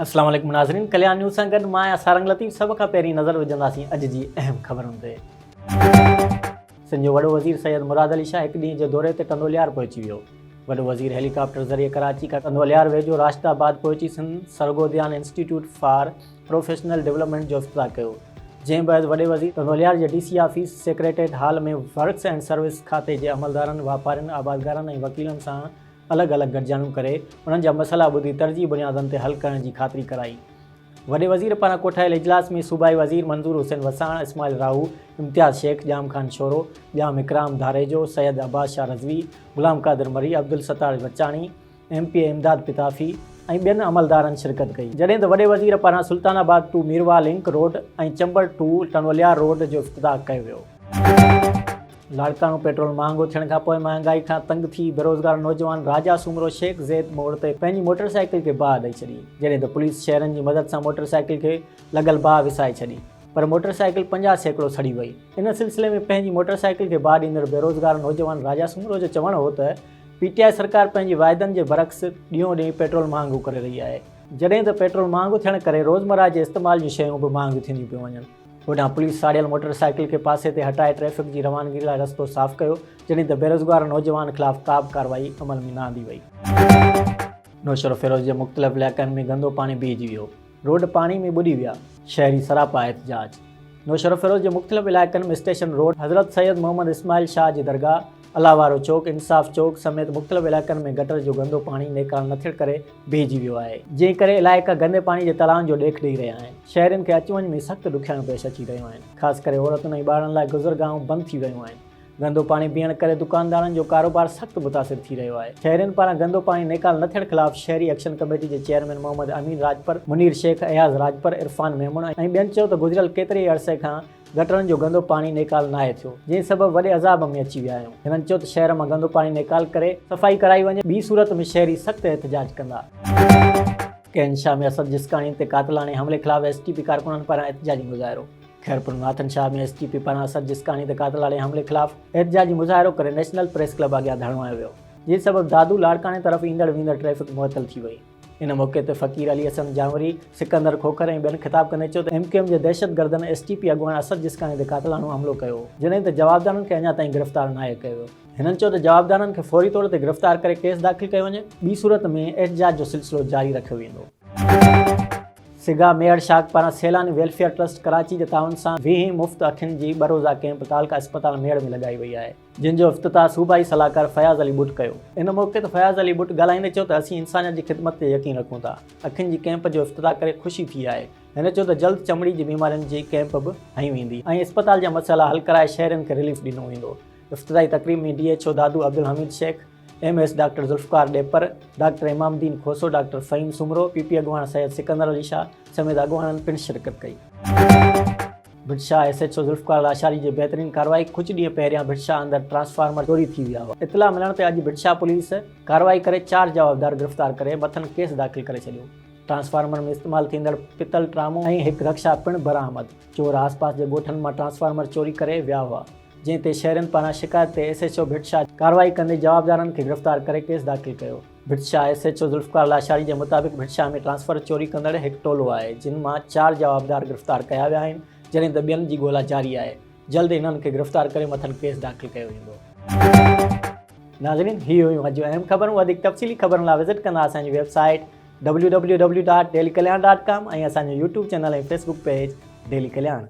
السلام عليڪم ناظرين ڪليان نيوز سان گڏ مان آهيان سارنگ لطيف سڀ کان پهرين نظر وجهنداسين اڄ جي اهم خبرن تي سنڌ جو وڏو وزير سيد مراد علي شاهه هڪ ڏينهن جي دوري تي ڪنڌوليار پهچي ويو وڏو وزير هيليڪاپٽر ذريعي ڪراچي کان ڪنڌوليار ويجهو راشد آباد پهچي سنڌ سرگوديان انسٽيٽيوٽ فار پروفيشنل ڊولپمينٽ جو افتتاح ڪيو جنهن بعد وڏي وزير وليار جي D C office secretariat hall ۾ works and service کاتي جي عملدارن، واپارين، آبادگارن ۽ وڪيلن سان الڳ الڳ گڏجاڻيون ڪري انهن جا مسئلا ٻڌي ترجيحي بنيادن تي حل ڪرڻ جي خاطري ڪرائي. وڏي وزير پاران ڪوٺايل اجلاس ۾ صوبائي وزير Manzoor Hussain Wassan, Ismail Rahu, Imtiaz Shaikh, Jam Khan Shoro, Jam Ikram Dharejo, Syed Abbas Shah Rizvi, Ghulam Qadir Marri, Abdul Sattar Bachani, M P A Imdad Pitafi ۽ ٻين عملدارن شرڪت ڪئي جڏهن ته وڏي وزير پاران Sultanabad to Mirwah link road ۽ Chamber to ٽنوليار روڊ جو افتتاح ڪيو ويو. لاڙڪاڻو، پيٽرول مهانگو ٿيڻ کانپوء مهانگائي کان تنگ ٿي بيروزگار نوجوان راجا سومرو شيخ زيد موڙ تي پنهنجي موٽر سائيڪل کي باهه ڏئي ڇڏي جڏهن ته پوليس شهرين جي مدد سان موٽر سائيڪل کي لڳل باهه وسائي ڇڏي پر موٽر سائيڪل پنجاهه سيڪڙو سڙي وئي ان سلسلي ۾ پنهنجي موٽر سائيڪل کي باهه ڏيندڙ بيروزگار نوجوان راجا سومرو جو چوڻ هو ته پي ٽي آء سرڪار پنهنجي واعدن جي برعڪس ڏينهون ڏينهن پيٽرول مهانگو ڪري رهي آهي، جڏهن ته پيٽرول مهانگو ٿيڻ ڪري روزمره جي استعمال جون شيون به مهانگيون ٿينديون پيون وڃن. هوڏانهن پوليس ساڙيل موٽر سائيڪل کي پاسي تي هٽائي ٽريفڪ جي روانگي لاء رستو صاف ڪيو، جڏهن ته بيروزگار نوجوان خلاف ڪابه ڪارروائي عمل ۾ نه آندي وئي. نوشهروفيروز جي مختلف علائقن ۾ گندو پاڻي بيهجي ويو. روڊ پاڻي ۾ ٻڏي ويا. شهري سراپا احتجاج نوشهروفيروز جي مختلف علائقن ۾ اسٽيشن روڊ، حضرت سيد محمد اسماعيل شاهه جي درگاهه، الله وارو چوڪ، انصاف چوڪ سميت مختلف علائقن ۾ گٽر جو گندو پاڻي نيڪال نه ٿيڻ ڪري بيهجي ويو آهي، جنهن ڪري علائقا گندي پاڻي جي تڙائن جو ڏيک ڏئي رهيا آهن، شهرين کي اچ وڃ ۾ سخت ڏکيائيون پيش اچي رهيون آهن، خاص ڪري عورتن ۽ ٻارڙن لاء گذرگاهون بند ٿي ويون آهن. گندو پاڻي پيئڻ ڪري دڪاندارن جو ڪاروبار سخت متاثر ٿي رهيو آهي، شهرين پاران گندو پاڻي نيڪال نه ٿيڻ خلاف شهري ايڪشن ڪميٽي جي چيئرمين محمد امين راڄپر، منير شيخ، اياز راڄپر، عرفان ميمڻ ۽ ٻين چيو ته گذريل ڪيتري ئي عرصي کان گٽرن جو گندو پاڻي نيڪال ناهي ٿيو، جنهن سبب وڏي عذاب ۾ اچي ويا آهيون، هنن چيو ته شهر مان گندو پاڻي نيڪال ڪري صفائي ڪرائي وڃي، ٻي صورت ۾ شهري سخت احتجاج ڪندا. ڪينشا ۾ اسد جسڪاڻي تي قاتلاڻي حملي خلاف ايس ٽي پي ڪارڪنن پاران احتجاجي مظاهرو. Khairpur Nathan Shah ۾ S T P پاران اسد جسڪاڻي تي قاتلاڻي حملي خلاف احتجاجي مظاهرو ڪري نيشنل پريس ڪلب اڳيان ڌرڻو هنيو ويو جنهن سبب دادو لاڙڪاڻي طرف ايندڙ ويندڙ ٽريفڪ معطل ٿي وئي ان موقعي تي فقير علي حسن جانوري، سڪندر کوکر ۽ ٻين خطاب ڪندي چيو ته ايم ڪيو ايم جي دهشتگردن ايس ٽي پي اڳواڻ اسد جسڪاڻي تي قاتلاڻو حملو ڪيو هو جڏهن ته جوابدارن کي اڃا تائين گرفتار ناهي ڪيو ويو. هنن چيو ته جوابدارن کي فوري طور تي گرفتار ڪري ڪيس داخل ڪيو وڃي ٻي صورت ۾ احتجاج جو سلسلو جاري رکيو ويندو. سگا ميهڙ شاخ پاران سيلاني ويلفيئر ٽرسٽ ڪراچي جي تعاون سان ويهين مفت اکين جي ٻه روزا ڪيمپ تعلقه اسپتال ميهڙ ۾ لڳائي وئي آهي جنهن جو افتتاح صوبائي صلاحڪار فياض علي ٻٽ ڪيو. ان موقعي تي فياض علي ٻٽ ڳالهائيندي چيو ته اسين انسانيت جي خدمت تي يقين رکون ٿا اکين جي ڪيمپ جو افتتاح ڪري خوشي ٿي آهي. هن چيو ته جلد چمڙي جي بيمارين جي ڪيمپ به هنيون ويندي ۽ اسپتال جا مسئلا حل ڪرائي شهرين کي رليف ڏنو ويندو. افتتاحي تقريب ۾ D H O Dadu Abdul Hameed Shaikh, M S doctor Zulfiqar Dahpar, doctor Imam Uddin Khoso, doctor Faheem Soomro, P P اڳواڻ سيد سڪندر علي شاهه سميت اڳواڻن پڻ شرڪت ڪئي. Bhit Shah S H O Zulfiqar Lashari جي بهترين ڪارروائي ڪجهه ڏينهن پهريان ڀٽ شاهه اندر ٽرانسفارمر چوري ٿي ويا هئا. اطلاع ملڻ تي اڄ ڀٽ شاهه پوليس ڪارروائي ڪري چار جوابدار گرفتار ڪري مٿن ڪيس داخل ڪري ڇڏيو. ٽرانسفارمر ۾ استعمال ٿيندڙ پتل ٽرامو ۽ هڪ رڪشا پڻ برآمد، چور آس پاس جي ڳوٺن مان ٽرانسفارمر چوري ڪري ويا هئا. جنهن تي شهرين پاران شڪايت تي S H O Bhit Shah ڪارروائي ڪندي جوابدارن کي گرفتار ڪري ڪيس داخل ڪيو. Bhit Shah S H O Zulfiqar Lashari جي مطابق ڀٽ شاهه ۾ ٽرانسفر چوري ڪندڙ هڪ ٽولو آهي جن مان چار جوابدار گرفتار ڪيا ويا آهن جڏهن ته ٻين جي ڳولا جاري آهي جلد انهن کي گرفتار ڪري مٿن ڪيس داخل ڪيو ويندو. ناظرين هي هيون اڄ جون اهم خبرون وڌيڪ تفصيلي خبرن لاء وزٽ ڪندا اسان جي website W W W dot daily Kalyan dot com ۽ اسان جو YouTube channel ۽ Facebook page daily Kalyan.